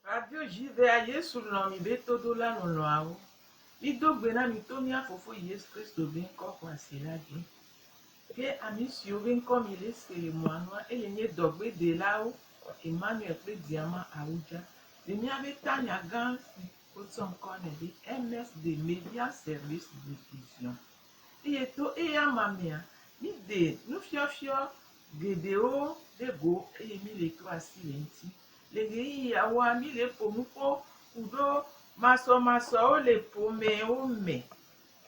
Radio Judea Yesu lɔ̃ mi be todola lɔlɔ̃awo. Mido gbe na mi to mía Fofo Yesu Kristo be ŋkɔ xɔasi la dzi. Ke ami siwo be ŋkɔ mi le se le mɔa nua eye nye dɔgbedelawo Emmanuel kple Diama Awudja le mía be tanya gã si Wotsɔ ŋkɔ nɛ be Ernest de Median Service Diffusion eye to eya ma mea, míde nufiɔfiɔ geɖewo ɖe go eye míle to asi le eŋuti. Le ɣeyiɣiawoa, míle ƒo nuƒo ku ɖo masɔmasɔwo le ƒomewo me,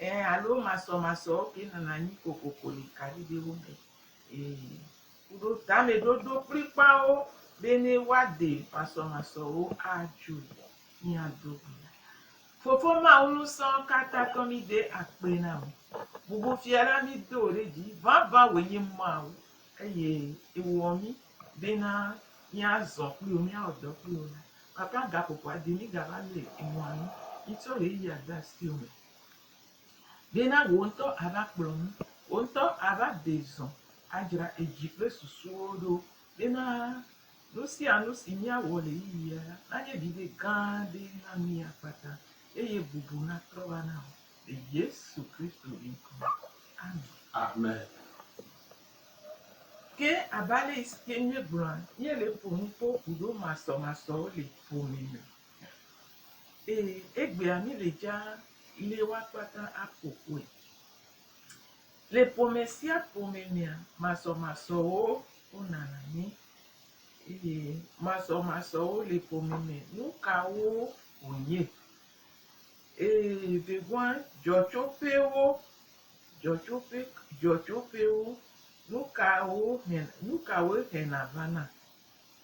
ɛɛ, alo masɔmasɔwo ke nɔna anyi kokoko le kaɖiɖewo me. Ɛɛ. kuɖo tameɖoɖo kplikpawo bene woade masɔmasɔwo adzo mia dome. Fofo Mawu Ŋusẽkatãtɔ mi de akpe na mi. Bubu fia la mi do ɖe dzi. Vavã wòe nye Mawu eye ewɔ mi bena mia zɔ kpli wò mia wɔ dɔ kpli wò la. Papa gaƒoƒoa de mi gava le enua nu. Mi tsɔ ɣeyiɣia de asiwò me. Ɖe na wò ŋutɔ ava kplɔ nu. Wò ŋutɔ ava de zɔ adzra edzi kple susuwo ɖo. Ɖe na nu sia nu si míawɔ le ɣeyiɣia la nanye viɖe gã aɖe na mí akpata eye bubu natrɔ va na wò le Yesu Kristo ŋkɔ me. Amen. Ke abe ale si ke míegblɔa, míele ƒo nu kpɔ ŋuɖomasɔmasɔwo le ƒome me Ee, egbea mi le dza le woakpata aƒo ƒoe. Le ƒome sia ƒome mea, masɔmasɔwo wonana mi. Eye masɔmasɔwo le ƒome me, nu kawo wònye? Ee, vevua dzɔtsoƒewo, dzɔtsoƒe, dzɔtsoƒewo, nu kawo he, nu kawoe hena vana?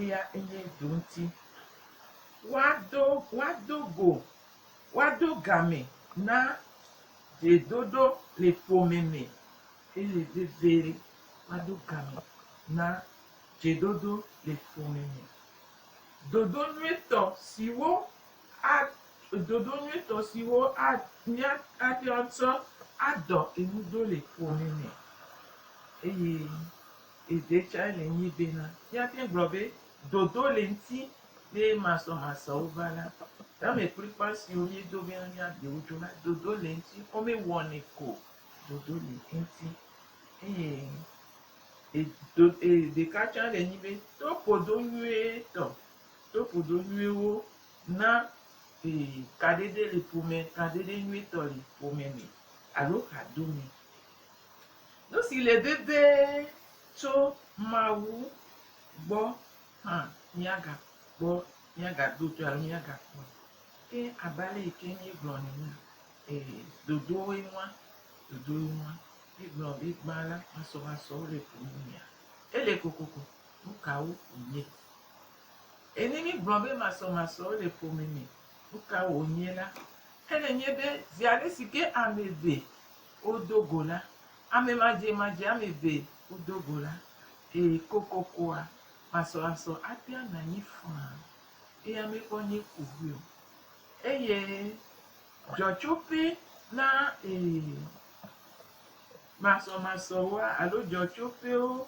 Eya enye dzo ŋuti. Woado, woado go, woado game na dzedoɖo le ƒome me eye vevie woado game na dzeɖoɖo le ƒome me. Ɖoɖo nyuitɔ siwo a, ɖoɖo nyuitɔ siwo a, mía, ate ŋu atsɔ adɔ enu ɖo le ƒome me eye. Eve tsɛ le nyi bena, Míate gblɔ be dodo le ŋti be masɔmasɔwo va la, tamekplikpa siwo míedo bena míaɖe wo dzoa, dodo le ŋti, womewɔnɛ ko o, dodo le ŋti. Eye e, do, e, ɖeka tsɛ le nyi be, to ƒodo nyuietɔ, to ƒodo nyuiwo na e, kaɖeɖe le ƒome, kaɖeɖe nyuietɔ le ƒome me alo hadomɛ. Nu si le vevie tso Mawu gbɔ hã míagakpɔ, míagado dzi alo míagakpɔe. Ke abe ale yi ke míegblɔ nɛ enea, ee, dodowoe ŋua, dodowoe ŋua. Míegblɔ be gbã la, masɔmasɔwo le ƒo nu mea, ele kokoko, nu kawo wònye? Eye ne míegblɔ be masɔmasɔwo le ƒo me me, nu kawo wònye la, ele nye be zi ale si ke ame eve Wodo go la, ame madzemadzea ame eve wodo go la, eye kokokoa, masɔlasɔ atia na anyi faa, eye ame kpɔ nye ko ʋui o. Eye dzɔtsoƒe na ee masɔmasɔwoa alo dzɔtsoƒewo,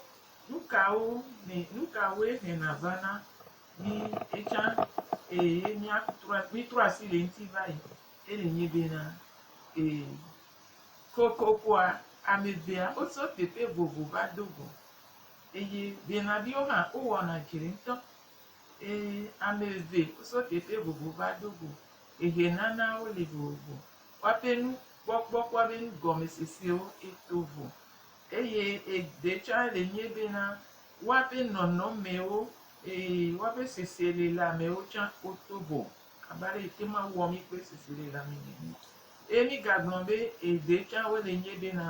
nukawo me, nukawoe hena vana? Mi etsã, ee, míatrɔ, mítrɔ asi le eŋuti va yi. Eli nyi bena, Ee. Kokokoa, amevea wotso teƒe vovo va do go. Eye benaviwo hã wowɔna dzre ŋutɔ. Ee, ame eve wotso teƒe vovo va do go. Ehenana wole vovo. Woaƒe nukpɔkpɔ kple woaƒe nugɔmesesewo to vo. Eye eɖe tsɛ le enye bena, woaƒe nɔnɔmewo, ee, woaƒe seselelãmewo tsɛ woto vo. abe ale yi ke Mawu wɔ mí kple susu ɖe la mí nɛ. Eye mígagblɔ be, Eve tsã wole nye ɖe na.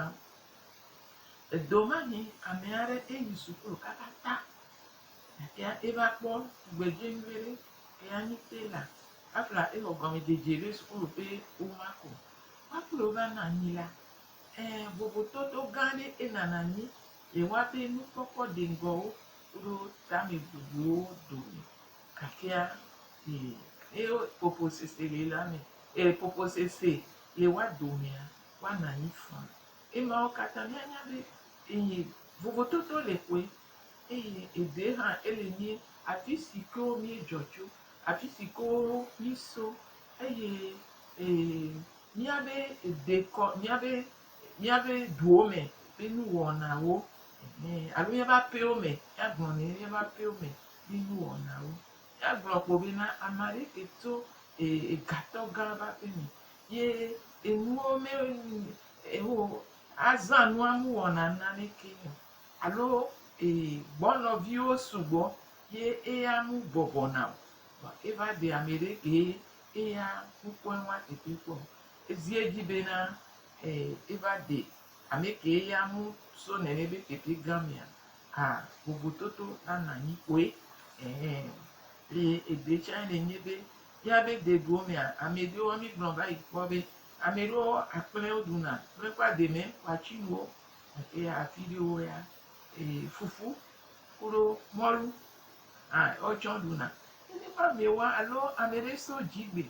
Edomani ame aɖe eyi suklu katata gake eva kpɔ tugbedze nyuie ɖe, eya nyi Taylor. Afla exɔ gɔmedzedze ɖe suklu ƒe woma ko. Kpɔa kple wo va nɔ anyi la, ẽ, vovototo gã aɖe enana anyi le woaƒe nukpɔkpɔ deŋgɔwo koɖo tamebubuwo dome. Afia yi ye poposese le la me, eye poposese le wa domea, wa na yi fã. Emawo kata mia nya be eyi vovototo le ƒoe, eye eɖe hã ele nyi afisi ke wo mie dzɔ tso, afisi ke wo mi so, eye e mia be eɖe kɔ mia be mia be duwo me be nu wɔna wo, ehe, alo mia be aƒewo me, mia gblɔ ne mia be aƒewo me. yi nuwɔnawo. Eya gblɔ kpo be na ame aɖe ke tso egatɔ gã ƒe aƒe me ye enuwo me ewo azã nua nu wɔna nane ke o alo e gbɔnɔviwo sugbɔ ye eya nu bɔbɔ na o. Vɔ eva ɖe ame ɖe ke ye eya nukpɔe nua teƒe kpɔ o. Ezi edzi be na e eva ɖe Ame kee ya mu so nene be keke gã mea a vovototo na na nyi koe ɛɛ. Eye eɖe tsae le nye be míabe deduwo mea ame ɖewo mí gblɔ va yi kpɔ be ame ɖewo akplɛ wo ɖuna kple eƒe ademe ƒe atsinuwo gake afi ɖewo ya ee fufu kuɖo mɔlu hã wo tsɔ ɖuna. Nene ƒe amewoa alo ame ɖe so dzi gbe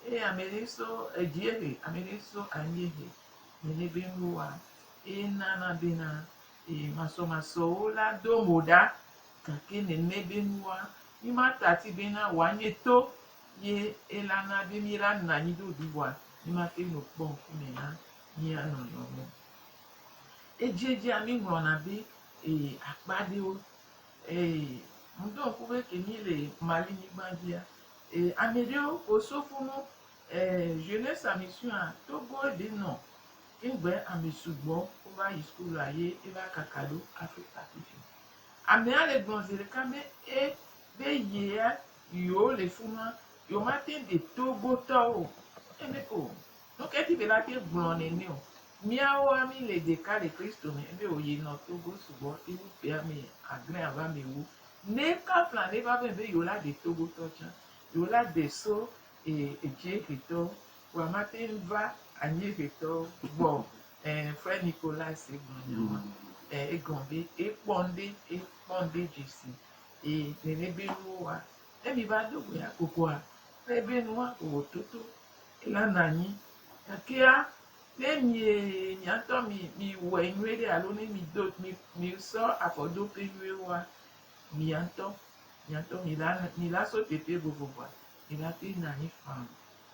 eye ame ɖe so edziehe ame ɖe so anyiehe. Mele be woa ena na bena e masɔmasɔwo la do mo ɖa, gake nene be nua mi ma tati bena wa nye to ye ela na be mi la na nyi ɖo ɖuwa mi ma te no kpɔ ŋku me na mia nɔnɔ wo. Edziedzia mi ŋlɔ na be e akpa ɖewo e ŋdɔ ŋku be ke mi le Mali nyigba dzia e ameɖewo ko sofunu Eh jeunesse a mission a Togo ɖe nɔ ŋgbe ame sugbɔ wo va yi school a ye e va kaka ɖo Africa fifi. Ame a le gblɔ zeɖeka be e be ye a yewo le funua yewo ma teŋ ɖe Togo tɔ wo o. E be o nuke ti be la te gblɔ nɛnɛ o. Miawo a mi le ɖeka le Kristo me. E be o ye nɔ Togo sugbɔ yi wu ƒe ame adre ava ame ewo. Nɛ kafla nɛ va vɛ be yewo la ɖe Togo tɔ tsã. Yewo la de so Eye Edziehetɔ kua mate ŋu va Anyiehetɔ gbɔ o. Ẽ, Frère Nicolas gblɔ nya ma. Ẽ, egɔ̃ be ekpɔ ŋɖe, ekpɔ ŋɖe dzi si. Eye nene be nuwo wa. Ne mi va do go ya kokua, ele be nua wòwɔ toto. Ela na anyi. Gakea, ne mie, mia ŋutɔ mi, mi wɔe nyuie ɖe alo ne mi do, mi, mi sɔ afɔ do ƒe nyuie woa, mia ŋutɔ, mia ŋutɔ mi la, mi la so teƒe vovovoa, Mi lafi na anyi faa.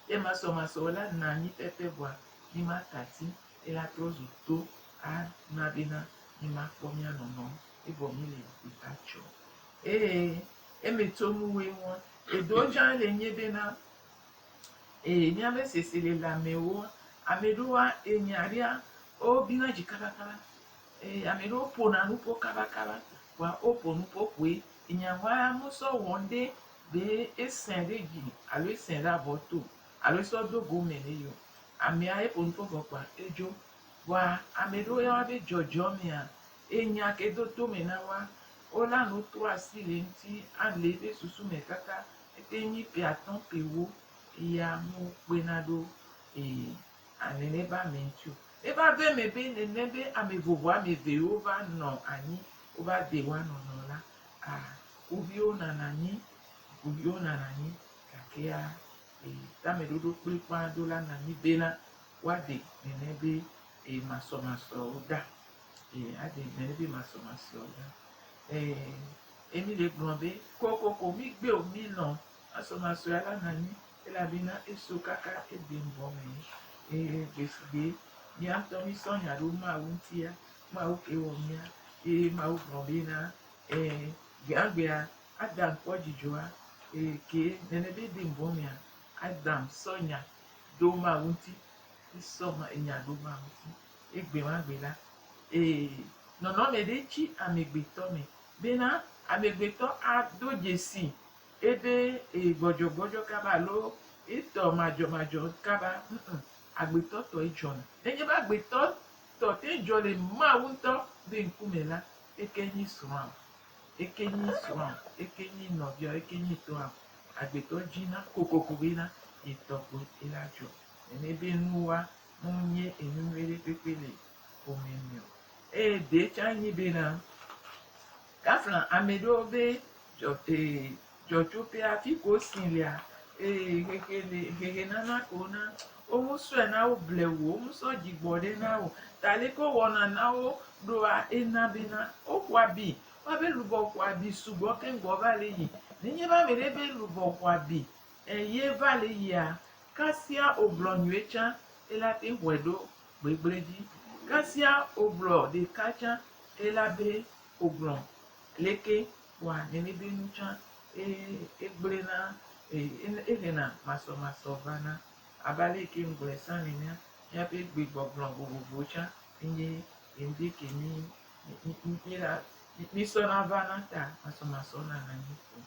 Ye masɔmasɔ la na anyi pɛpɛ vɔa mi ma tati. Ye la trɔ zu to a na be na mi ma kpɔ mia nɔnɔ. Ye vɔ mi le yi ta tsɔ. Ee, ye mi to nu we ŋua. E do djan le nye be na, ee, mia be sese le la me woa, ame ɖe woa e nya ɖea, o bi na dzi kaba kaba. Ee, ame ɖe wo po na nupo kaba kaba. Vɔa o po nupo koe. Enya ŋua a mu sɔ wɔ ŋɖe. Ɖe esẽ ɖe dzi alo esẽ ɖe avɔ to alo esɔ do go mɛ nɛ yi o, amea eƒo nu fɔ vɔ kpoa edzo. Vɔa amɛ ɖewo ya woabe dzɔdzɔ mea, enya ke do to mɛ na woa, wola nu to asi le eŋti ale eƒe susu me kaka ete nyi ƒe atɔ̃ ƒe ewo ya me wo kpena ɖo e alɛ ne va ame ŋti o. Ne va do eme be nene be ame vovo ame eve yi wo va nɔ anyi wo va de woa nɔnɔ la, A, wo viwo nana anyi, wo viwo nana anyi, gakea e, tameɖoɖo kplikpaa do la na anyi bena woade nɛnɛ be e, masɔmasɔwo ɖa. E, ade nɛnɛ be masɔmasɔwo ɖa. E, e mi le gblɔ be kokoko mi gbe o, mi nɔ masɔmasɔa la na anyi elabena eso kaka Eden bɔ me. E, gbesigbe miaŋutɔ mi sɔ nya ɖo Mawu ŋutia, Mawu kee wɔ mía ye Mawu gblɔ be na e, gbeagbea Adam kpɔ dzidzɔa e, ke nene be de ŋbɔ mea Adam sɔ nya ɖo Mawu ŋuti, esɔ nya ɖo Mawu ŋuti. Egbe ma gbe la, e, nɔnɔme ɖe tsi amegbetɔ me bena amegbetɔ ado dzesi ebe e, gbɔdzɔgbɔdzɔ kaba alo etɔ madzɔmadzɔ kaba, ŋ, agbetɔ tɔ edzɔna. Nenye be agbetɔ Tɔ te dzɔ le Mawu ŋutɔ be ŋkume la, eke nyi srɔ̃am, eke nyi srɔ̃am, eke nyi nɔviawo, eke nyi tɔam. Agbetɔ dzi na kokoko be na ye tɔ kpoe ela dzɔ. Nene be nu wa mu nye enu nyui ɖe kpekpe le ƒome me o. Eye ɖe tsa nyi be na kafla ameɖewo be dzɔ, e, Dzɔdzɔtɔe afi ko si lea eye xexe le xexe nana ko na womu sɔe na wo blewu o womu sɔ dzi gbɔ ɖe na wo ta le ko wɔna na wo ɖoa ena be na wo xɔ abi wa be lubɔ xɔ abi sugbɔ keŋ gbɔ va le yi ne nye be ame ɖe be lubɔ xɔ abi eye va le yia kasia wo gblɔ nyuie tsã ela te xɔe ɖo gbegble dzi kasia wo gblɔ ɖeka tsã ela be wo gblɔ leke. Kpɔa enibinu tsã ye egblẽna eye ehena masɔmasɔ vana. Abe ale yi ke ŋgblɔe sã nenea, míaƒe gbegbɔgblɔ vovovowo tsã enye ŋdi ke mí míla mísɔna vana ta masɔmasɔ nana mí ko.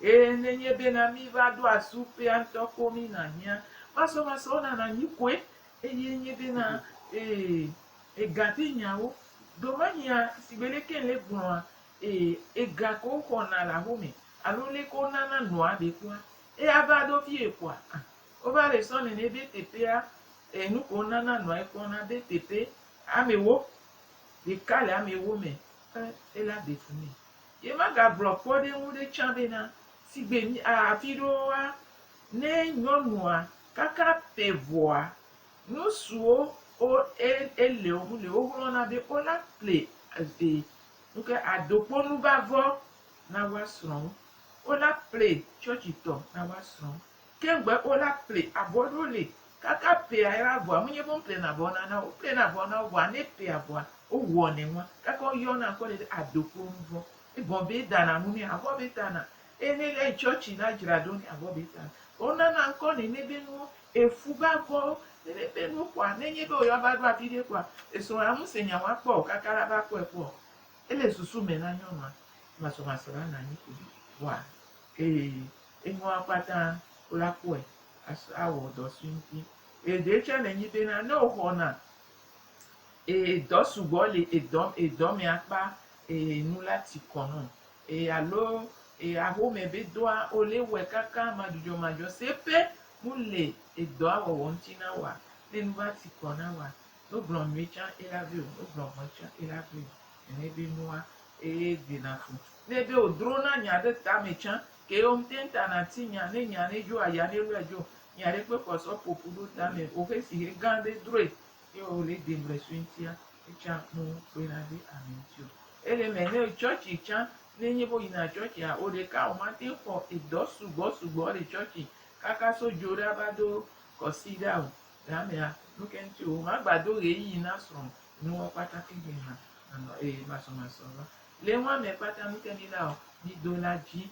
Eye nenye bena míva ɖo asi ƒea ŋutɔ ko mina hiã masɔmasɔwo nana mí koe. Eye nye bena ee, egatenyawo. Domenyea, sigbe leke ŋle gblɔa, Eye ega ko woxɔna le aho me alo leke wonana noa ɖe kpɔa, eya va ɖo vie koa? Ã! Wova le sɔ nene be teƒea, e, nuke wonana noae kpɔna be teƒe ame ewo, ɖeka le ame ewo me, e, ela de fu nɛ. Ye magagblɔ kpɔɖeŋu ɖe tsã bena, sigbe mi, a, afi ɖewoa, ne nyɔnua kaka ƒe vɔa, nusiwo wo, e, eleo mu le, woxlɔna be wola ple, e, Nu ke ado kpo nuvavɔ na woa srɔ̃wo. Wo la ple tsɔtsi tɔ na woa srɔ̃wo. Ke ŋgbe wo la ple avɔ ɖo li kaka pea yra avɔa. Menye be wo ple na avɔ na na wo. Wo ple na avɔ na wo vɔa ne pea avɔa wo wɔ nɛ ŋua kaka wo yɔ na ŋkɔ nɛ ɖe ado kpo nuvɔ. Egɔn be eda na nu nɛ avɔ be ta na. Eye ne ele tsɔtsi na dzra ɖo nɛ avɔ be ta na. Vɔ wo nana ŋkɔ nɛ nebe nuwo Efu be akpɔ ɖeɖe ƒe nu kpɔa, ne enye be wòyɔ va ɖo afi ɖe kpɔa, esrɔ̃a ŋu se nya wòakpɔ o kaka la va kpɔe kpɔ. Ele susu me na nyɔnua masɔmasɔ la nanyi ko ɖi. Vɔa, ee, enyɔa kpata wòla kpɔe asɔ awɔ dɔ sue ŋuti. Eye ɖee tsɛ nenyi bena ne wòxɔna, ee, dɔ sugbɔ li edɔ, edɔ me akpa, ee, nu la ti kɔ nɔ Eye alo e axome be dɔa o le wɔe kaka madzudzɔ madzɔ se pɛ mu le edɔa wɔwɔ ŋuti na woa, ne nu va ti kɔ na woa, no gblɔ nyuie tsã e la veo, no gblɔ vɔe tsã e la veo. Nene be nua eye de na fu. Ne be o dro na nya ɖe ta me tsã ke ye o ŋte ŋta na ti nya, ne nya ne dzo aya ne lɔe dzo, nya ɖe kpe kɔ sɔ popu ɖo ta me o xe si xe gã ɖe droe. Ye o le de mble sue ŋtia, etsã o kpe na de ame ŋti o. Ele mɛ nɛ o churchi tsã, ne nye be o yina churchi a, oɖeka o ma teŋ xɔ edɔ sugbɔ sugbɔ le churchi kaka so djo ɖa va do kɔsiɖa o. Le amɛa, nuke ŋti o ma gba do ɣeyiyi na srɔ̃ nuɔ kpata ke gbe ma nɔ eye masɔ masɔ va. Le nua mɛ kpata nuke mi la o, mi do la dji,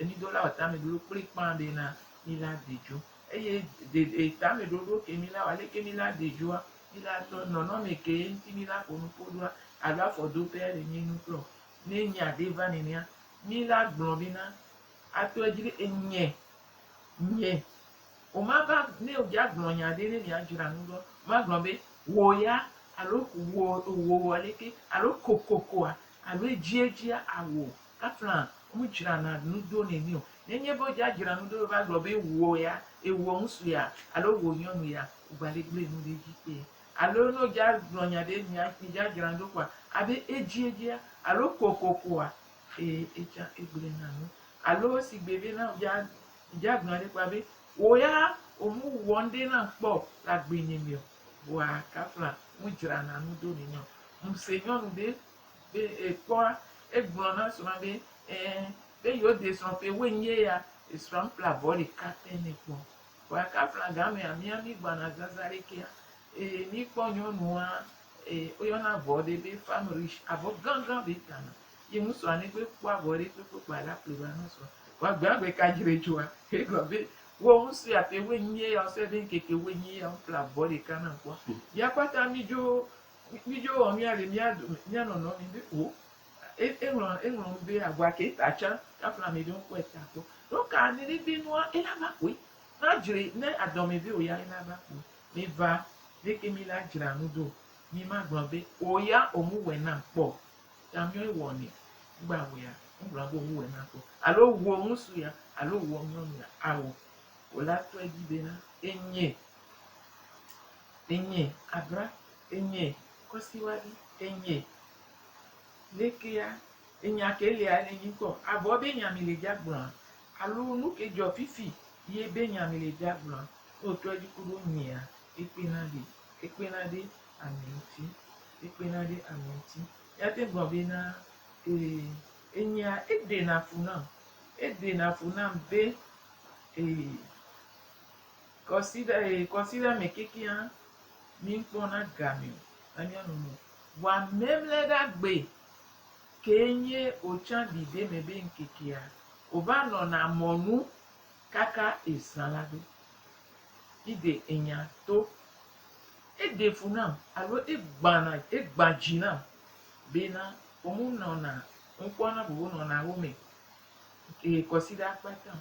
mi do la o tamɛ ɖoɖo kplikpã be na mi la de djo. Eye de de tame ɖoɖo ke mi la wa leke mi la de dzoa mi la tɔ nɔnɔme ke ye ŋti mi la ƒo nuƒo ɖoa alo afɔ do pea le mi nu klɔ. Ne enye ade va nenea, mi la gblɔ be na ato edzi be enye, nye. O ma va ne o dja gblɔ nya ɖe ne mi a dzra nu ɖoa, o ma gblɔ be wò ya alo wò, wò wɔ leke alo kokokoa alo edzi edzia awò Afla mu dzra na nu ɖo ne mi o. Ne nye be wodza dzra nu ɖo va gblɔ be wò ya, ewɔ ŋsu ya alo wò nyɔnu ya, wò gba le gble nu ɖe edzi kpea? Alo ne wodza gblɔ nya ɖe mi ya mi dza dzra nu ɖo kɔa, abe edzi edzia alo kokokoa, ee etsã egble na nu. Alo si gbe be na wodza dza gblɔ ɖe kpɔa be wò ya wò mu wɔ nuɖe nam kpɔ o le agbe nye me o. Vɔa kafla mu dzra na nu ɖo ne mi o. Ŋse nyɔnu ɖe Be ekpɔa, egblɔ na srɔ̃a be, ẽ, be yewoɖe srɔ̃ ƒe ewoe nye ya. Esrɔ̃a ƒle abɔ ɖeka te nɛ kpɔ. Vɔ aka aflaga mea, mía mí gbɔna zazã ɖe kea. Eye mí kpɔ nyɔnua, e, woyɔna avɔ ɖe be femme riche, avɔ gãgã be ta na. Ye ŋu srɔ̃a ne gbe kpɔ avɔ ɖe kpekpe kpɔa, ela ƒle va na srɔ̃a. Vɔ egbea egbe ka dzi ɖe dzɔa, egblɔ be, Wɔ nu sia ƒe ewoe nye ya, wosrɔ̃e be ŋkeke ewoe nye ya, woƒle avɔ ɖeka nam kpɔ. Mía kpata mí dzo Mídzo wɔ mía ɖe mía dome, mía nɔnɔ mi be o. E, eŋlɔ, eŋlɔ nu be agua ke ta tsã, kafla ame ɖe ŋkɔe ta kpɔ. Nu ka ne ɖeɖe nua ela va kpɔe? Na dzre ne adɔ me be o ya ela va kpɔe. Mi va, ne ke mi la dzra nu do, mi ma gblɔ be o ya o mu wɛ nam kpɔ o. Ta nyɔ ewɔ nɛ. Ŋgba wɛ ya, ŋgblɔ be o mu wɛ nam kpɔ. Alo o wu o ŋusu ya, alo o wu o nyɔnu ya. Ao. O la tɔe dzi be na enye. Enyee Abra, enyee Kɔsiwavi, enyee Lekea, enya ke lia le nyi ŋkɔ? Avɔ be nya mi le dza gblɔa? Alo nuke dzɔ fifi ye be nya mi le dza gblɔa? Ne wò trɔ dzi ku ɖo nyea, ekpena ɖe, ekpena ɖe ame ŋuti, ekpena ɖe ame ŋuti. Mia te gblɔ be na, ee, enyea eɖena fu nam, eɖena fu nam be, ee, Kɔsiɖa e kɔsiɖa me kekeŋ míkpɔna gamɛ o anya nu nu vɔa mɛmlɛɖa gbe kee nye otsã ɖiɖɛ me be ŋkekea ova nɔna mɔnu kaka ezã la ɖo. Ide enya to. Eɖe fu nam alo egbana egbã dzi nam bena omu nɔna ŋkpɔna vovo nɔna wo me e kɔsiɖa kpata o.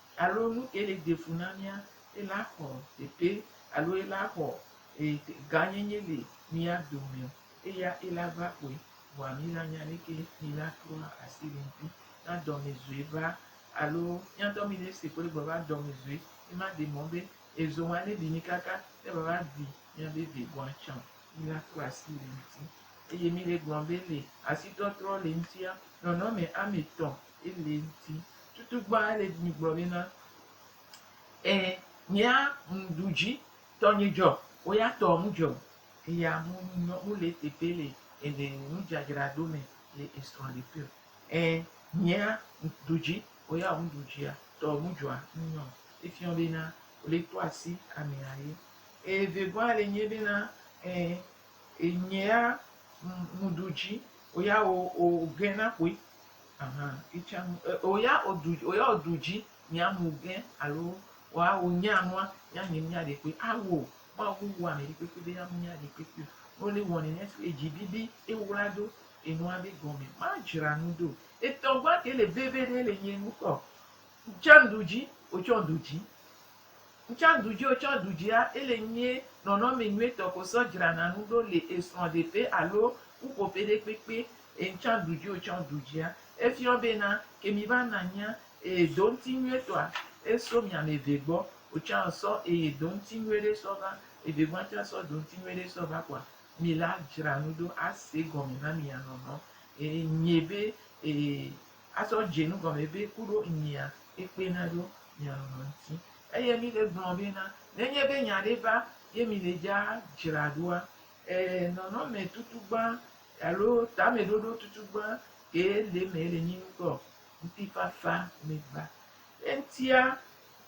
Alo nu ke le defu na mía, ela xɔ teƒe alo ela xɔ gãnyenye le mía dome o, eya ela va xɔe, vɔa mí la nya leke mí la trɔa asi le ŋti na dɔmezɔe va alo mía dɔ mí le ese kple gbeva dɔmezɔe, ema de mɔ be ezo ŋa ne ɖi mí kaka ne va va ɖi mía be ve gɔa tsã o, mí la trɔ asi le ŋti. Eye mí le gblɔ be le asi trɔtrɔ le ŋtia, nɔnɔme ame tɔ Ele ŋti tutu gbã ele mi gblɔ nɛ na e nyea ŋ ɖu dzi tɔ nye dzɔ o ya tɔ ŋ dzɔ e ya mu nyɔ mu le teƒe le ene nu dzadzra ɖo me le esrɔ le ƒe e nyea ŋ ɖu dzi o ya ŋ ɖu dzia tɔ ŋ dzɔa ŋ nyɔ e fiɔ be na o le tɔ asi ame a ye e ve gbɔa le nye be na e e nyea ŋ ɖu dzi o ya o o ge na ƒoe. Aha, itsã nu, e, o ya o du, o ya o du dzi mia mu gɛ alo o a o nya nua ya nyi mia ɖe kpe a wo ma wo wo ame ɖe kpekpe be ya mu mia ɖe kpekpe o. No le wɔni ne fi edzi bibi e wla do enua be gɔme ma dzra nu do. Etɔgba ke le veve ɖe le nye ŋkɔ. Jan du dzi, o tsɔ du dzi. Ŋtsã ɖudzi o tsɔ ɖudzia ele nyie nɔnɔmɛ nyuitɔ ko sɔ dzrana nu ɖo le esrɔ ɖeƒe alo ƒuƒoƒe ɖe kpekpe e ŋtsã ɖudzi o tsɔ ɖudzia efiɔ be na ke mi va na nyia eye do ŋti nyuitɔa eso miame eve gbɔ otsã sɔ eye do ŋti nyuiɖe sɔ va eve gbɔa ŋtsã sɔ do ŋti nyuiɖe sɔ va kɔa mi la dzra nu ɖo ase gɔme na mi ya nɔnɔ e nyie be e. Azɔ dze nu gɔme be ku ɖo nyia ekpe na ɖo mia lɔlɔ ŋuti. Eye mi le gblɔ be na, nenye be nya ɖe va ye mi le dza dzra ɖoa, e, nɔnɔme tutugbã alo tame ɖoɖo tutugbã kee le eme le nyi nu kpɔ o, ŋutifafa me gba. Eŋutia,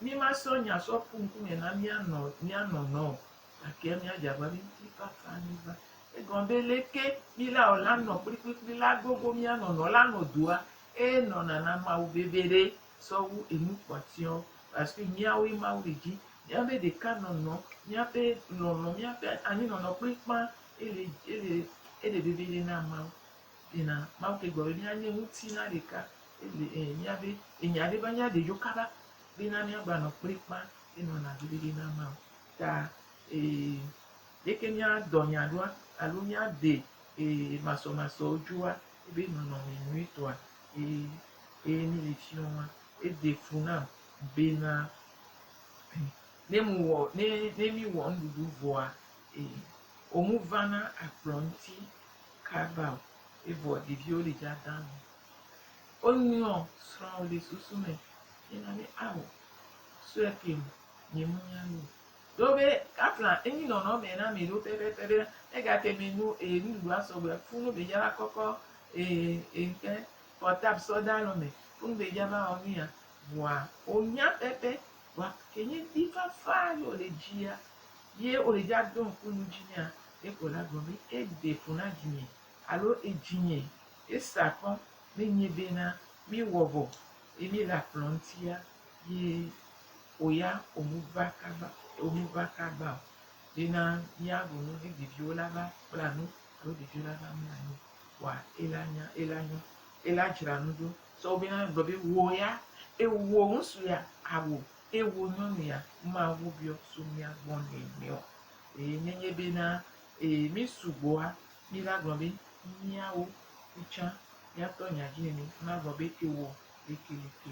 mi ma sɔ nya sɔ ƒu ŋkume na mia nɔ, mia nɔ nɔ o, Gake míadze agbagba be mídi kaka anyigba. Egɔme be leke mí la wɔ la nɔ kplikplikpli la gogo mía nɔnɔ la nɔ doa? Eye nɔna na Mawu vevie ɖe sɔ wu enu kpɔtɔewo. Paske míawo ye Mawu le dzi. Míabe ɖeka nɔnɔ, míaƒe lɔlɔ, míaƒe anyi nɔnɔ kple ƒã ele ele ele vevie ɖe na Mawu. Ena Mawu ke gblɔ be mía nye ŋuti na ɖeka ele e mía be enya ɖe va mía ɖe dzo kaba be na mía gba nɔ kple ƒã enɔna vevie ɖe na Mawu. ta ee, leke míadɔ nya ɖoa alo míaɖee ee masɔmasɔ dzoa eƒe nɔnɔme nyuitɔa? Ee, eye míele fiɔ ma, ede fu nam bena ne mewɔ ne ne míwɔ nuɖuɖu vɔa ee womevana akplɔ ŋuti kaba o, evɔ ɖeviwo le dzadã me. Wonyrɔ srɔ̃wò le susu me hena be ao sue keŋ Nyemenya nu o. Ɖo be Kaplan enyi nɔnɔme na mì ɖo pɛpɛpɛ be egate mɛ nu e nuɖuɖu asɔ gbɔe. Funu be dza va kɔkɔ e e ŋke portable sɔ da lɔ mɛ. Funu be dza va wɔ nu ya. Vɔa wo nya pɛpɛ. Vɔa kenye ŋdi fafa ye wo le dzia ye wo le dza do ŋku nu dzi nɛa, yeko la gblɔ be e de fu na vinye alo edzinye e sa kɔ ne nye bena mí wɔ vɔ ye mí le akplɔ ŋtia. Yi oya omuva kagba omuva kagba o yi na mia bu nu vi ɖeviwo la va kpla nu alo ɖeviwo la va mla nyi wa ela nya ela nyɔ ela dzra nu ɖo sɔ wo be na gblɔ be wo ya ewo ŋusu ya awo ewo nyɔnu ya ma wo biɔ so mia gbɔ nɛ nɛɔ eye ne nye be na eye mi sugbɔa mi la gblɔ be miawo mi tsã miatɔ nya dzi nene ma gblɔ be ewo leke leke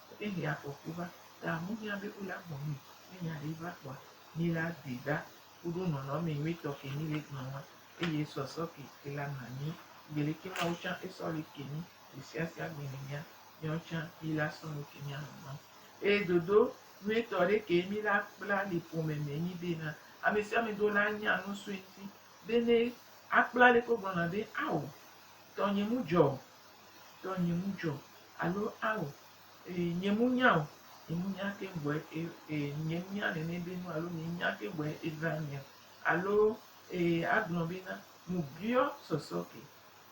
Eye ne afɔku va, ta amu mía be wo le agbɔ nui. Ne nya ɖee va kpɔa, mí le adui ɖa kuɖo nɔnɔme nyuitɔ ke mí le gbɔ ŋa. Eye sɔsɔ ke ke la na mí be leke Mawu tsã esɔ li ke mí gbe sia sia gbe ne mía, míawo tsã mí le asɔ nu ke mía nɔnɔ. Eye dodo nyuitɔ ɖe kee mí le akpla le ƒome me nyi be na ame sia ame do la nya nu sue ŋuti be ne akpla leke wogblɔna be, Ao, tɔnye mu dzɔ o. Tɔ nye mu dzɔ alo ao e nye mu nya o nye mu nya ke gbɔe e e nye mu nya nene be nu alo nye nya ke gbɔe evra mia alo e agblɔ be na mu biɔ sɔsɔ ke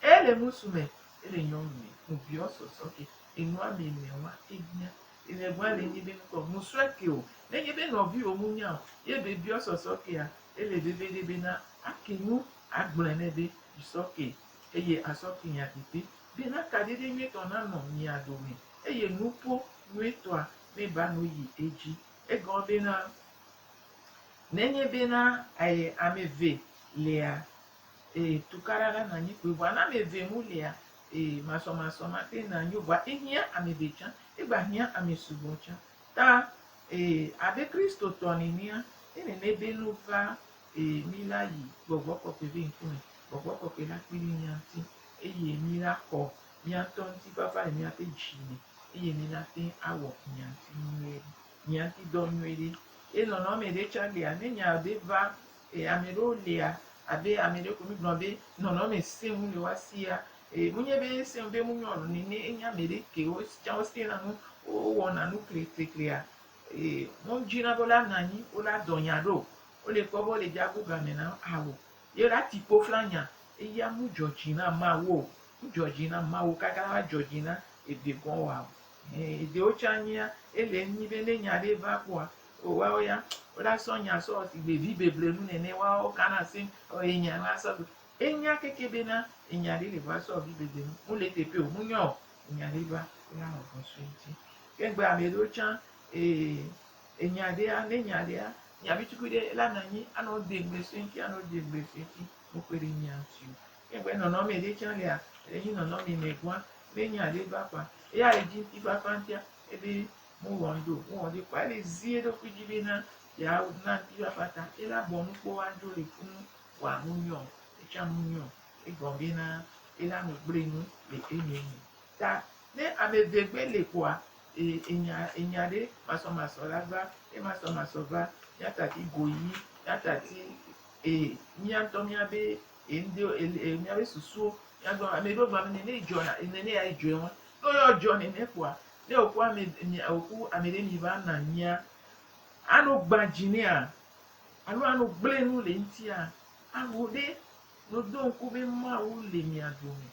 e le ŋusu me e le nyɔnu me mu biɔ sɔsɔ ke enu ame ene wa e hiã e le gba le nye be ŋkɔ mu sɔe ke o ne nye be nɔvi o mu nya o ye be biɔ sɔsɔ kea e le veve ɖe be na ake nu agblɔe nɛ be sɔ ke Eye azɔ finya didi ɖi na kaɖiɖi nyuitɔ nanɔ mia dome, eye nuƒo nyuitɔa meba nu yi edzi. Egɔme bena, nenye bena aye ame eve lea, e, tukaɖa la nanyi kpoe, vɔa ne ame eve mu lea, e, masɔmasɔ mate ŋu anyo o, vɔa ehiã ame ɖe tsã, egba hiã ame sugbɔ tsã. Ta, e, abe Kristotɔ nenea, ne nenebe nu va Ee, mina yi gbɔgbɔ kɔkɔe ƒe ŋkume. Gbɔgbɔ kɔkɔe nakpe ɖe mía ŋuti eye mina xɔ mía ŋutɔ ŋuti fafa le míaƒe dzi me eye mina te ŋu awɔ mía ŋuti nyuie ɖe, mía ŋuti dɔ nyuie ɖe. Ye nɔnɔme ɖe tsã lia, ne nya ɖe va, e, ame ɖewo lia, abe ame ɖe ko mígblɔna be nɔnɔme sẽŋu le woa sia, e, menye be esẽŋu be munyɔna o nene, enye ame ɖe ke wo tsã wosẽna nu, wowɔna nu kleklekle a, Eye ne wodzi na be wole anɔ anyi, wole adɔ nya ɖo, wole kpɔ be wole dze agu game na awu, ye wole ati kpo fla nya, eya mu dzɔ dzi na Mawu o, mu dzɔ dzi na Mawu kaka ne ava dzɔ dzi na ede gɔ̃ wa o. Ẽ, edewo tsã nyea, ele enyi be ne nya ɖe va kpɔa, o woawo ya, wola sɔ nya sɔ wɔ sigbe vibeblenu nene, woawo wokana asi ɔ ye nya la sɔ gbe. Enya keke bena enya ɖe le va sɔ wɔ vibeblenu, mule teƒe o, munyɔ o. enya ɖe va wo la nɔ vɔn sue ŋti ke gbe ame ɖewo tsã ee enya ɖe ya ne nya ɖe ya nya vi tukui ɖe la na nyi anɔ de ŋgbe sue ŋti anɔ de ŋgbe sue ŋti me kpɔe ɖe nya ŋti o ke gbe nɔnɔme ɖe tsã lea ele nyi nɔnɔme me gɔa ne nya ɖe va kɔa eya edzi ŋti fafa ŋtia ebe mu wɔn do mu wɔn do kɔa ele zi eɖokui dzi be na ya na ŋti fafa ta ela bɔ nukpɔ wa dzo le funu wa mu nyɔ etsã mu nyɔ Egɔmee na be la nu gble nu le eme me. Ta ne ame eve gbe le kɔa, e, enya, enya ɖe masɔmasɔ la va, ne masɔmasɔ va, míata ti go yi, míata ti, e, mía ŋutɔ mía be, e, ŋde, e, e, mía be susuwo, mía gbɔ, ame ɖewo gblɔ be ne dzɔna, ne ne ya dzɔe wɔn, ne yɔ dzɔ nene kɔa, ne wòku ame, mia, wòku ame ɖe mi va na nyia, ano gbadzi nea, alo ano gble nu le ŋutia, aho ɖe Miɖo ŋku be Mawu le mia dome.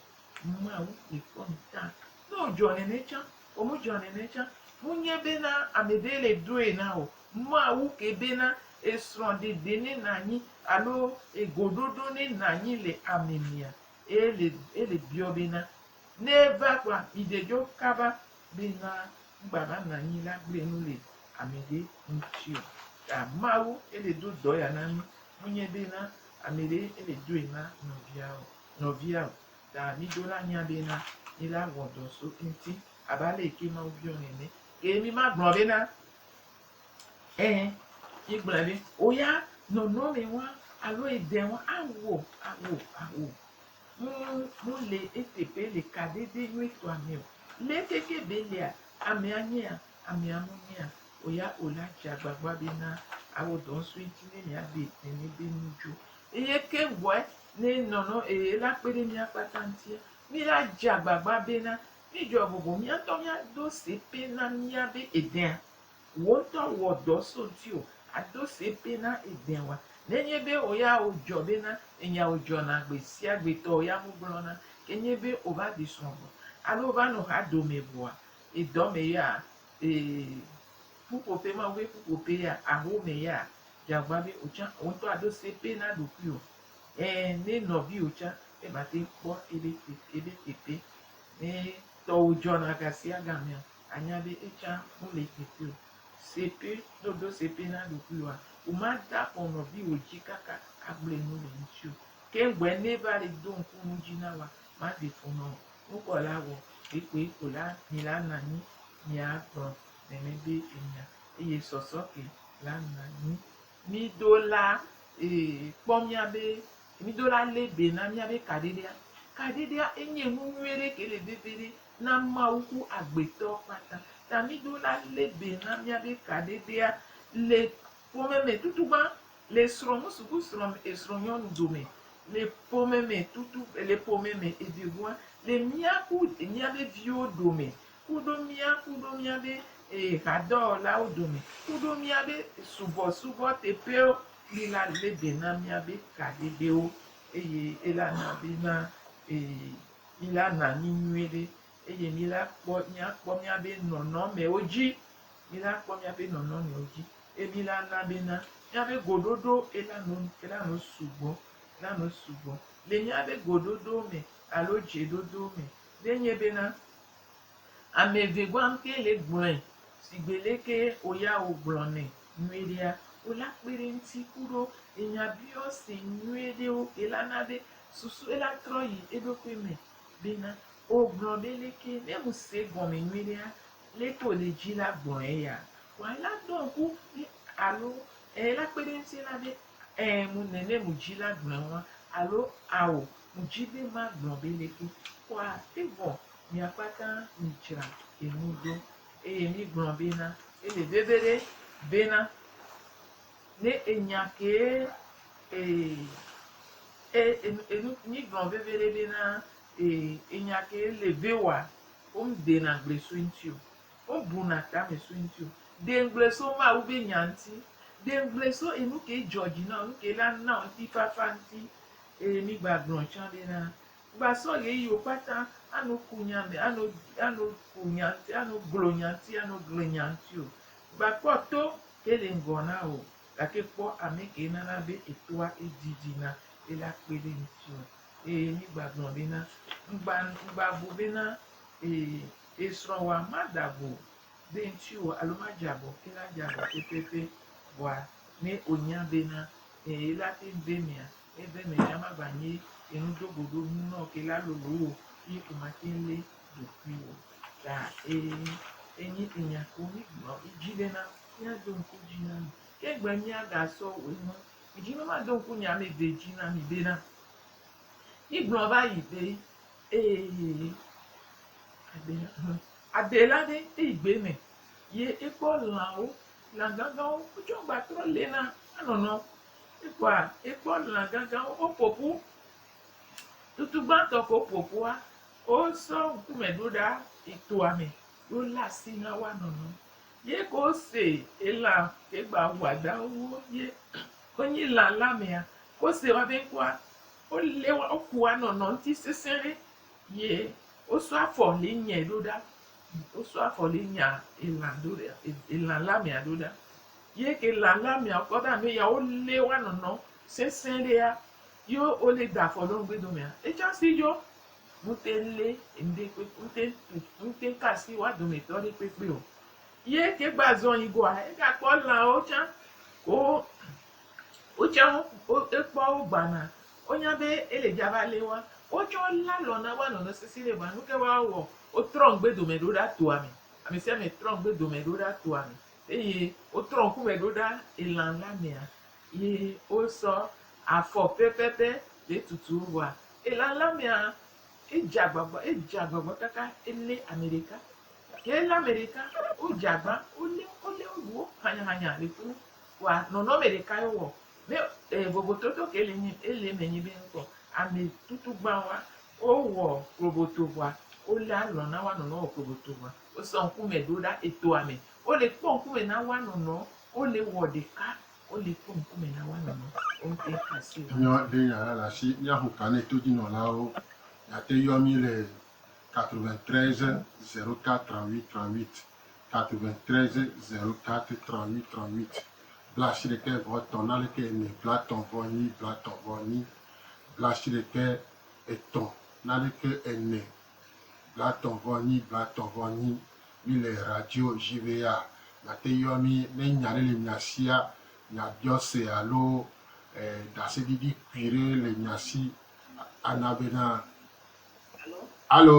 Mawu koe kpɔ mi ta. Ne wòdzɔ nene tsã ɔ, medzɔa nene tsã. Menye bena ame ɖee le ɖoe na o. Mawu ke bena esrɔ̃ɖeɖe ne nànyi alo egoɖoɖo ne nànyi le ame mea, eye ele biɔ bena, ne eva kpɔa, miɖe dzo kaba bena Ŋgba va nɔ anyi la gblẽ nu le amɛɖe ŋti o. Ta Mawu ye le do dɔ ya na mí, munye be na amɛɖe ye le doe na nɔvia o, nɔvia o. Ta mí do la nya be na mí la wɔ dɔ so eŋti abe ale yi ke Mawu biɔ nɛnɛ. Ke mí ma gblɔ be na ẽ, mí gblɔɛ be o ya nɔnɔmɛ wa alo edɛ wa a wo, a wo, a wo. Ŋu le ete be le kaɖede nyuitɔa me o. Leke ke be lea amea nyea, amea nu nyea o ya o la, dze agbagba be na awɔ dɔ ŋsu eŋti ne mia ɖe nene be nu dzo. Eye ke ŋgɔe ne nɔnɔ eye la kpe ɖe mia kpata ŋutia, mi la dze agbagba be na mi dzɔa bɔbɔ mia ŋutɔ mia do se pe na mia be edea. Wò ŋutɔ wɔ dɔ so dziwò ado se bena èdẽ wa. Nenye be wò ya wòdzɔ bena enya wòdzɔna gbe sia gbe tɔ wò ya wogblɔna, ke nye be wòva ɖi srɔ̃ vɔ alo wòva nɔ xa dome vɔa, ye dɔ me ya, ee, ƒuƒoƒe, Mawu ƒe ƒuƒoƒe ya, aho me ya, dze agbagba be wò tsã wò ŋutɔ àɖo se pɛ na ɖokuiwò. Ẽ, ne nɔviwò tsã meva te kpɔ ebe, ebe teƒe ne tɔwò dzɔna ga sia ga mea, Anya be etsã mele teƒe o. Se ƒe, ne wòɖo se ƒe na ɖokuiwòa, wòmade afɔ nɔviwò dzi kaka agblɔe nu le eŋuti o. Ke ŋgɔe ne eva le do ŋku nu dzi na wòa, maze fu nɔ o. Nu kɔ la wɔ kpekpee ko la, mi la na anyi miagblɔ nene be enya, eye sɔsɔ ke la na anyi. Mido la, ee, kpɔ míabe, mido la lé be na míabe kaɖiɖia. Kaɖiɖia enye nu nyuie ɖe ke le veve ɖe na Mawu ku agbetɔ kpata. Ta mido la lé be na míabe kaɖiɖia le ƒome me tutu gbã, le srɔ̃ ŋusu ku srɔ̃ e srɔ̃ nyɔnu dome, le ƒome me tutu, le ƒome me evegoa, le mía ku e míabe viwo dome, Kuɖo mía, kuɖo mía ɖe ee hadɔwɔlawo dome, kuɖo mía ɖe subɔsubɔ teƒewo, mi la lé be na mía be kaɖeɖewo, eye ela na be na ee mi la na mi nyuie ɖe, eye mi la kpɔ mía kpɔ mía be nɔnɔmewo dzi, mi la kpɔ mía be nɔnɔmewo dzi, eye mi la na be na mía be goɖoɖo ela no ela no sugbɔ, ela no sugbɔ le mía be goɖoɖowo me alo dzeɖoɖowo me, ɖe nye be na. Ame eve gbɔ amke le gblɔe sigbe leke woya wogblɔ nɛ nyuie ɖea, wola kpe ɖe eŋuti ku ɖo enya biɔse nyuie ɖewo ke la na be susue la trɔ yi eɖokui me bena, Wogblɔ be leke? Ne ŋusee egɔme nyuie ɖea, leke wòle dzi la gblɔ eya. Vɔa la ɖɔ ŋku be alo ela kpe ɖe eŋuti la be, Ɛɛ mu nenem wòdzi la gblɔ eŋua alo Ao Ŋdzi be magblɔ be ɖeko kɔa, evɔ miakpata midzra enu ɖo. Eye migblɔ bena, Ele veve ɖe, bena, ne enya kee e, e, e, enu, migblɔ veve ɖe bena, e, enya kee le veoa, womdena gble so eŋti o. Wobuna tame so eŋuti o. Ɖe ŋgble so Mawu be nya ŋuti. Ɖe ŋgble so enu ke dzɔ dzi na wò, nu ke la na wò ŋutifafa ŋuti. Eye migbaglɔ̃ tsã ɖe ɖa. Gbasɔ ɣeyiɣiwo kpata ano ku nya me, ano, ano ku nya ŋuti, ano glo nya ŋuti, ano gli nya ŋuti o. Gbakpɔ to ke le ŋgɔ na wò o, gake kpɔ ame ke nana be etoa edidi na be la kpe ɖe ŋutiwò. Eye migbaglɔ̃ bena, ŋgba, ŋgbabu bena, Ee, Esrɔ̃wòa mada go be ŋutiwò alo madze abɔ ke la dze abɔ pɛpɛpɛ vɔa ne onya bena e ela te ŋu be mia e be me ya mava nye enu do go ɖo nu nɔ ke la lolo o yi omate ŋu le ɖokuiwò ta e enye enya ko mi gblɔ yi dzi bena mia do ŋku dzi na mi ke egbe mia ga sɔ we nu mi dzi be ma do ŋku nye ame ve dzi na mi bena mi gblɔ va yi be. Eye yi aɖe hã, aɖe la ɖe eyi gbe me, ye ekpɔ lãwo, lã gãgãwo, wotsɔ agba trɔ le na enɔnɔ. Ekpɔa, ekpɔ lã gãgãwo, woƒo ƒu. Tutu gbãtɔ ke woƒo ƒua, wosɔ ŋkume ɖo ɖa yi toa me ye wolé asi na woanɔnɔ. Ye ke wose elã ke gba wɔadãwo ye wonyi lã la mea, ke wose woabe ŋkɔa, Wolé wa wokua nɔ nɔ ŋti sesẽ ɖe ye wosɔ afɔ li nyɛ ɖo ɖa wosɔ afɔ li nya elã do ɖa elã la mea ɖo ɖa ye ke elã la mea wokɔ ɖa nu ya wolé wa nɔ nɔ sesẽ ɖe ya ye wolé da afɔ ɖo ŋgbe domea etsɔ si yɔ ŋute lé ŋɖe kpe ŋte tu ŋte ka si wa dometɔ ɖe kpekpe o ye ke gba zɔn yi goa ega kpɔ lãwo tsã ko Wotsɛ wo, wo, wokpɔa wo gbana. Wonya be ele dza va lé woa. Wotsɛ wolé alɔ na woa nɔnɔ sesẽ ɖe vɔa nuke woa wɔ? Wotrɔ ŋgbe dome ɖo ɖa toa me. Ame sia ame trɔ ŋgbe dome ɖo ɖa toa me. Eye wotrɔ ŋkume ɖo ɖa elan la mea. Ye wosɔ afɔ pɛpɛpɛ le tutu wo vɔa elan la mea edze agbagba, edze agbagba kaka elé ame ɖeka. Ke elé ame ɖeka, wodze agba, wolé, wolé woɖu wo hanyahanya le kunu. Kpoa nɔnɔme ɖeka ye wowɔ ne e vovototo ke le nyi ele eme nyi be ŋkɔ ame tutugbã wa wowɔ kloboto vɔa wole alɔ na wa nɔnɔ wɔ kloboto vɔa wosɔ ŋkume ɖo ɖa etoa me wole kpɔ ŋkume na wa nɔnɔ wole wɔ ɖeka wole kpɔ ŋkume na wa nɔnɔ wo ŋte asi wa. Nyɔ ɖe nya la le asi míaxo ka ne todzinɔlawo miate yɔ mí le 93 04 38 38. tatome tre ze zero tate trɔ nyi trɔ nyit blashi ɖekɛ vɔ tɔn nalekɛ enɛ blatɔn vɔ nyi blatɔn vɔ nyi blashi ɖekɛ etɔn nalekɛ enɛ blatɔn vɔ nyi blatɔn vɔ nyi mi le radio ʒi be ya miate yɔ mi ne nya ɖe le mia sia mia biɔ se alo e dase ɖiɖi kpui ɖe le mia si ana be na alo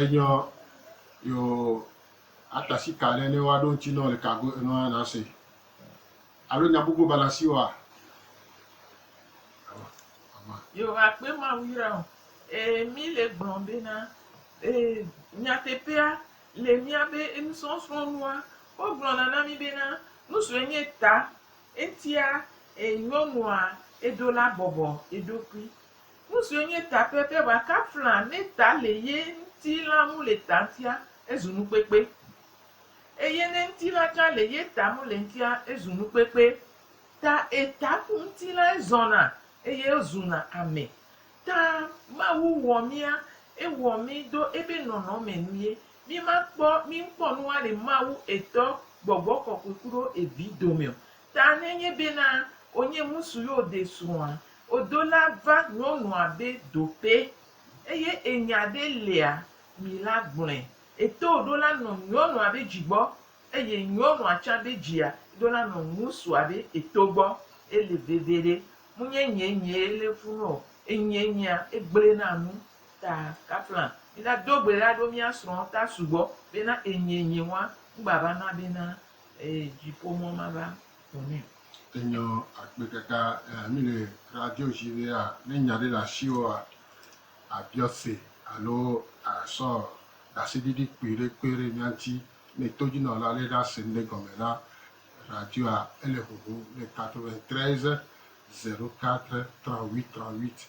Enyɔ yo atasi ka ɖe ne wa ɖo ŋuti nɔ le kago enɔ ana se. Alo nya gbogbo bana si wa. Yo akpe ma wira o. E mi le gblɔ be na e nyatepea le mia be enusɔsrɔnua wo gblɔ na na mi be na nusu enye ta Eŋtia, e nyɔnua eɖo la bɔbɔ eɖokui. Nusiwo nye ta pɛpɛ bua ka fla ne ta le ye ŋti la ŋu le ta ŋtia, ezu nukpekpe. Eye ne ŋti la tsã le ye ta ŋu le ŋtia, ezu nukpekpe. Ta e ta ku ŋti la ezɔna eye ezuna ame. Ta Mawu wɔ mía, ewɔ mí do ebe nɔnɔme nu ye. Mí ma kpɔ mí ŋkpɔ nu wa le Mawu etɔ gbɔgbɔ kɔkɔe kuɖo evi domɛ o. Ta ne nye be na o nye ŋusu ye o de srɔ̃ a, o do la va nyɔnua be dope. Eye enya ɖe lea mi la gblɔɛ. Eto ɖo la nɔ nyɔnua be dzi gbɔ, eye nyɔnua tsã be dzia ɖo la nɔ ŋusua be eto gbɔ. Ele veveɖe. Mu nye nye nyee le funu o. Enyie nyea, egble na nu. Ta, Kaplan, mina do gbe la ɖo mía srɔ̃ ta sugbɔ bena enyie nye ŋua ŋgba va na bena ee dziƒo mɔ ma va ƒo nɛ o. Enyɔ akpe kaka ea mi le radio dzi be a ne nya ɖe le asi o a a biɔ se alo a sɔ ɖaseɖiɖi kpui ɖe kpe ɖe mía ŋuti. Ne todzinɔla le ɖa se ŋɖe gɔme na radio a ele huhum le 93 04 34 38.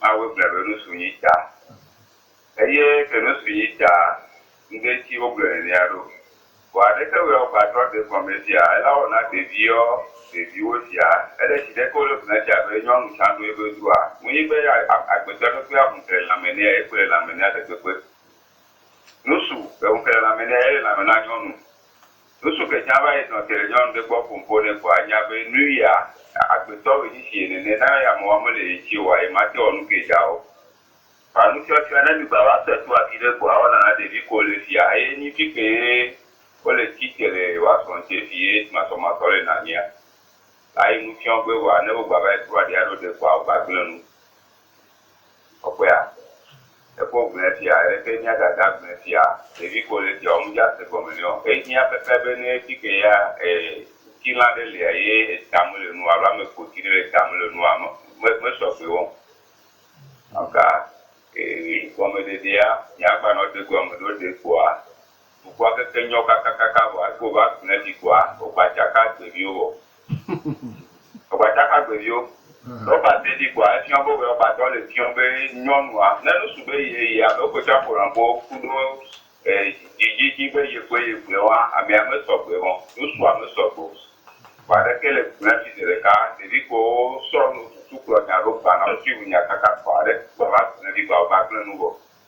Mawu gblɔe be nu su yi ta. Eye ke nu su yi ta, ŋde ŋti wo gblɔe nenea ɖo. Vɔa ɖeke wɔe wo gba trɔ ɖe gɔme fia ela wɔ na ɖeviɔ ɖeviwo sia. Ele shi ɖeke wo le gblɔe fia be nyɔnu tsa ɖo yebe dua. Ŋuyi be ya agbetɔ ɖe kpea ŋu kle lãme nɛ ye kple lãme nɛ ɖe gbegbe. Nu su eŋu kle lãme nɛ ye le lãme na nyɔnu. Ŋsu ke tsã va yi nɔ te ɖe nyɔnu ɖe gbɔ ƒom ƒo nɛ kpɔ a nya be nu yia agbetɔ woe nyi si ye nene na ye ame wa me le ye tsi o a ye ma te wɔ nu ke dza o. Kpa nu tsɔ tsɔe ne mi gba va se toa ki ɖe gbɔ a wɔna na ɖevi ko le fia eye nyi fi ke ye wo le tsi te le wa sɔ ŋtse fi ye tsi masɔ masɔ le na mia la yi nu fiɔ gbe vɔa ne wo gba va yi kploa ɖe a ɖo ɖe kpɔa wo gba gble nu Kɔkɔea, Ekpɔ gblẽ sia, aleke mía Dada gblẽ sia? Ɖevi ko le esia wɔm, medze ase gɔme nɛ o. Ehiã pɛpɛ be ne edi ke ya ŋutilã ɖe lia eye eta mele nu o alo ame kpoti ɖe le eta mele nu o, mesɔ gbee wɔm. Eka gɔmeɖeɖea, míagbanɔ ede gɔme ɖo ɖe kpoa dukɔa keke nyɔ kakakaka vɔa, eke wova gblẽ fi kpoa, wogba tsaka gbe viwo vɔ. Gbadagbagbevio, Rɔba te ɖi kpoa efiɔ be Rɔbatɔ le fiɔ be nyɔnua ne nusu be ye yi alo eƒe caƒolanƒo ku ɖo e dzidzidzi be ye kpoe ye gblɔe wa amea me sɔgbe ɔ nusua me sɔgbe o. Vɔ aleke le gblɔe fi zeɖeka ɖevi kpowo sɔ nu tutu kplɔ nya ɖo gbanɔ ŋti ŋu nya kaka kpɔ aɖe gbava gblɔe vi gba o va gblɔe nu vɔ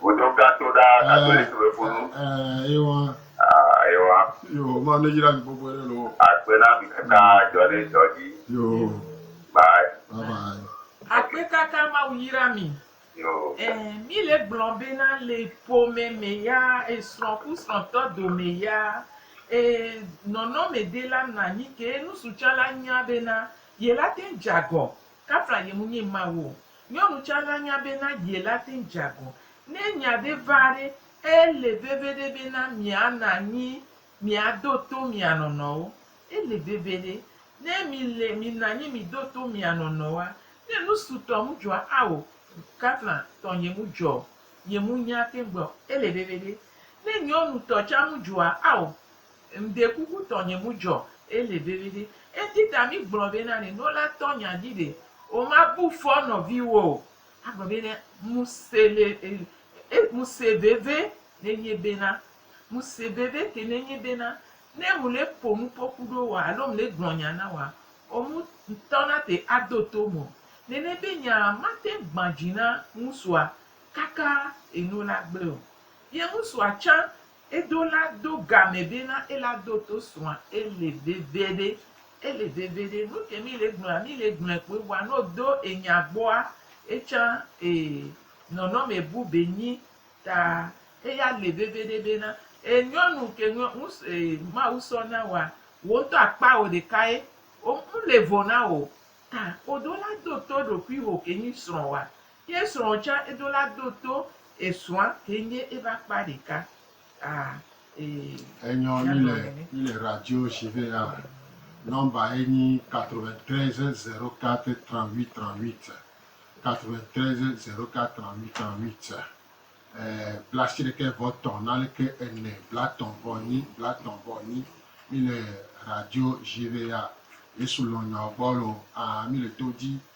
Vodom gã to ɖa katolik be funu. Eyewa. Eyewa. Yo, ma ne yira mi gbogbo ɖe lo. Akpe na mi kaka jɔ ne jɔ dzi. Yo. Bye. Bye bye. Akpe kaka ma wo yira mi. Yo. Eh, mi le gblɔ be na le ƒome me ya, esrɔ̃ ku srɔ̃tɔ dome ya, eh, nɔnɔme de la na nyi ke nusu tsã la nya be na ye la te dze agɔ Kafla yem nye Mawu o. Nyɔnu tsa la nya be na ye la te ŋ dza gɔ. Ne nya ɖe va ɖe, e le veveɖe be na mia na anyi mia do to mia nɔnɔwo. E le veveɖe. Ne mi le mi na anyi mi do to mia nɔnɔwoa, ne nu sutɔ mu dzɔa ao, Kafla tɔ yem dzɔ o, yem nya te ŋ gbe o. E le veveɖe. Ne nyɔnu tɔ tsa mu dzɔa ao, Ŋde kuku tɔnye mu djɔ ele veviɖe ŋdi ta mi gblɔ be na ne no la tɔ nya dji ɖe o ma bu fɔ nɔvi wo o a gblɔ be ne mu se le e e mu se veve ne nye be na mu se veve ke ne nye be na ne mu le po nu po ku ɖo wa alo mu le gblɔ nya na wa o mu ŋtɔ na te a do to mu o nene be nya ma te gba dji na ŋusua kaka enu la gble o ye ŋusua tsa Edo la do game be na ela do to srɔ̃a ele veveɖe ele veveɖe nuke mi le gblɔa mi le gblɔe kpoe vɔa ne odo enya gbɔa etsã e nɔnɔme bu be nyi ta eya le veveɖe be na e nyɔnu ke ŋus e mawu sɔ na woa wo ŋtɔ akpa wo ɖeka ye o ŋle vo na wo ta odo la do to eɖokuiho ke nyi srɔ̃ woa Ye srɔ̃ tsã edo la do to esrɔ̃a ke nye eƒe akpa ɖeka. Ah ee. Enyɔ mi le mi le radio si vɛ ya number ye nyi 93 04 38 38 93 04 38 38 bla ashiɖe ke vɔ tɔn na le ke ene bla tɔn vɔ nyi bla tɔn vɔ nyi mi le radio si vɛ ya yesu lɔnyɔ gbɔ lo ah mi le to dzi.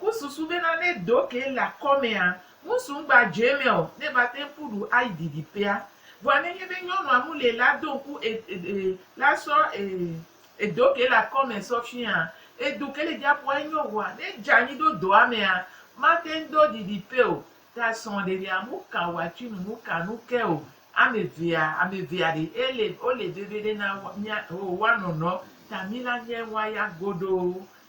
Ku susu bena ne do ke le akɔmea, ŋusu ŋgba dzoe me o, ne va te ŋku ɖu ayi didiƒea. Vɔa ne nye be nyɔnua mu le la do ŋku e, e, e, la sɔ e, edo ke le akɔme sɔ fia, edo ke le dziaƒoa enyo vɔa ne edze anyi ɖo doa mea, mate ŋu do didiƒe o. Ta srɔ̃ɖeɖea mu ka wòatui nu nu ka nu ke o. Ame evea, ame evea ɖe ele, wole veviɖe na wo, mía, o, woanɔ nɔ, ta mí la nye ŋua ya godoo.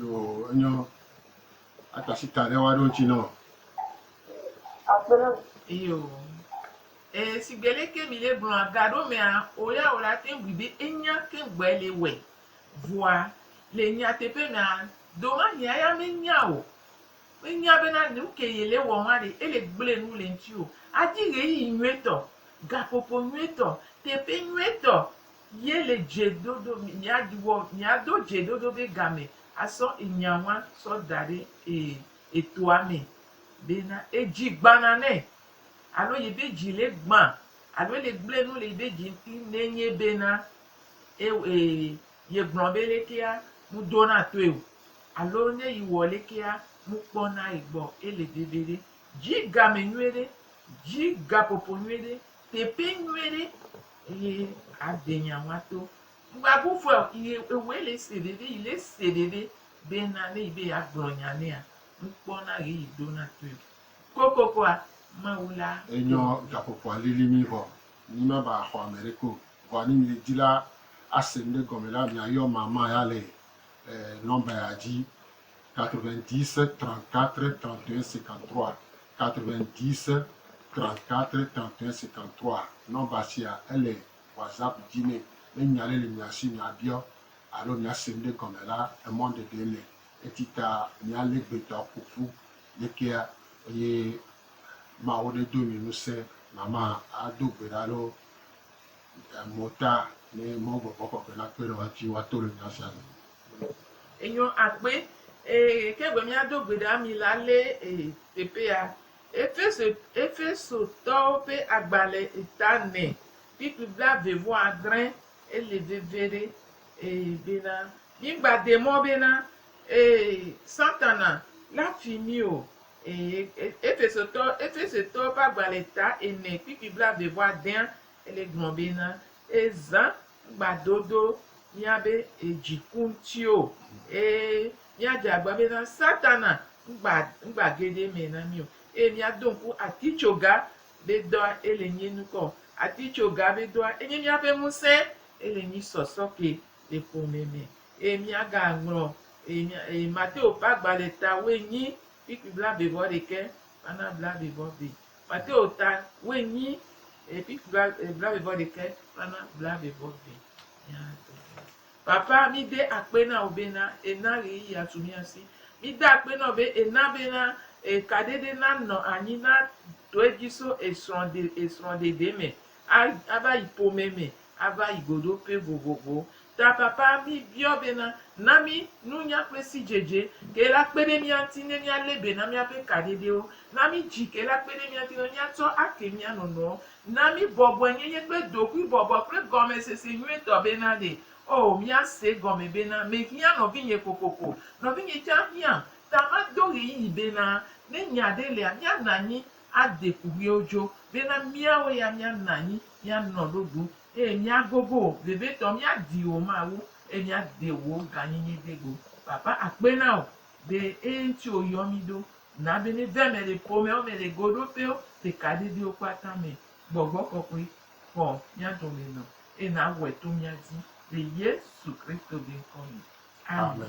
Yo, enyo. Ata si ta ɖe woaɖo ŋuti nɔ. Yo. E, sigbe le ke mi le gblɔa gaɖo mea, o ya o la teŋ bui be enya keŋ gbɔe le wɔe. Vɔa, le nyateƒe mea, domahia ya menya o. Menya bena nuke ye le wɔm a ɖe ele gblɔe nu le ŋuti o. Adi ɣeyiɣi nyuietɔ, gaƒoƒo nyuietɔ, teƒe nyuietɔ Ye le dze ɖoɖo mia ɖi wɔ mia do dze ɖoɖo be game asɔ enya wan sɔ da ɖe e etoa me be na edzi gbana nɛ alo yi be dzi le gba alo ele gble nu le yi be dzi ŋti ne nye be na e e ye gblɔ be lekea mu do na toe o alo ne yi wɔ lekea mu kpɔ na yi gbɔ ele veve ɖe. Dzi game nyuie ɖe, dzi gaƒoƒo nyuie ɖe. Teƒe nyuie ɖe eye aɖe nya wa to. Ŋgba bu vɔe o yi ewoe le se ɖe ɖe yi le se ɖe ɖe be na ne yi be ya gblɔ nya nɛa ŋkpɔ na ɣe yi ɖo na toe o. Kokokoa Mawu la Enyɔ dɔ mi. gaƒoƒoa lili mí vɔ mí me va xɔ ame ɖeke o. Vɔa ne mí di la ase ŋɖe gɔme la mía yɔ mama ya le e nɔmba ya dzi. 90 34 31 53 90 34 31 53 nɔmba sia ele WhatsApp dzi nɛ. Ne nya aɖe le mia si miabiɔ alo miase nuɖe gɔme la, emɔɖeɖe le eti ta mialé gbetɔ ƒo ƒu ɖekea eye Mawu nedo mi ŋusẽ. Mama ado gbe ɖa ɖo mota ne Mawu gbɔgbɔ kɔkɔe nakpe ɖe woa dzi woato le nya sia me. Enyo akpe ee ke be míado gbe ɖa mi la lé ee teƒea. Efeso Efesotɔwo ƒe agbalẽ eta ene kpikpi blaeve vɔ adre ele veviɖe ee bena mígbade mɔ bena ee Satana la fi mí o ee Efesotɔ Efesetɔwo ƒe agbalẽ eta ene kpikpi blaeve vɔ adea ele gblɔ bena Ezã gbadodo míabe dziku ŋuti o. Eye míadze agba bena Satana ŋgba, ŋgba ge ɖe eme na mí o. Eye míado ŋku atitsoga be dɔa ele nyi ŋkɔ. Atitsoga be dɔa enye míaƒe ŋusẽ. Ele nyi sɔsɔ ke le ƒome me. Eye míagaŋlɔ Mateo ƒe agbalẽ ta woe nyi, kpikpi blaeve vɔ ɖekɛ, kpana blaeve vɔ ve. Mateo ta woenyi epi kpla eblaeve vɔ ɖekɛ kpla na blaeve vɔ ve mia tɔ ɖe. Papa mi de akpe na wo be na ena ɣeyi ya tu mia si. Mi de akpe nɔ be ena be na eka ɖeɖe na nɔ anyi na tɔe dji so esrɔ de esrɔ ɖeɖe me a ava yi pomɛ me ava yi godope vovovowo ta papa mi biɔ bena na mi nunya kple sidzedze ke la kpe ɖe mía ŋuti ne mía le be na míaƒe kaɖeɖewo, na mi dzi ke la kpe ɖe mía ŋuti ne mía tsɔ ake mía nɔnɔewo, na mi bɔbɔe nyenye kple ɖokui bɔbɔ kple gɔme sese nyuie tɔ bena ɖe oh mía se egɔme bena me hiã nɔvinye kokoko nɔvinye tsã hiãm ta ma do ɣeyiɣi bena ne nya ɖe lea mía nanyi ade kuxiwo dzo bena míawo ya míanɔ anyi, míanɔ ɖo ɖum, eye míagogo wò, vevietɔ míadi wò Mawu, eye míade wò gãnyinyi ɖe go. Papa akpe na wò be eye ŋuti wòyɔ mí ɖo. Na be míeva eme le ƒomewo me, le goɖoƒewo, le kaɖedɛwo kpata me. Gbɔgbɔ kɔkɔe, xɔ mía dome nɔ, eye nàwɔe to mía dzi, le Yesu Kristo be ŋkɔ me. Amen.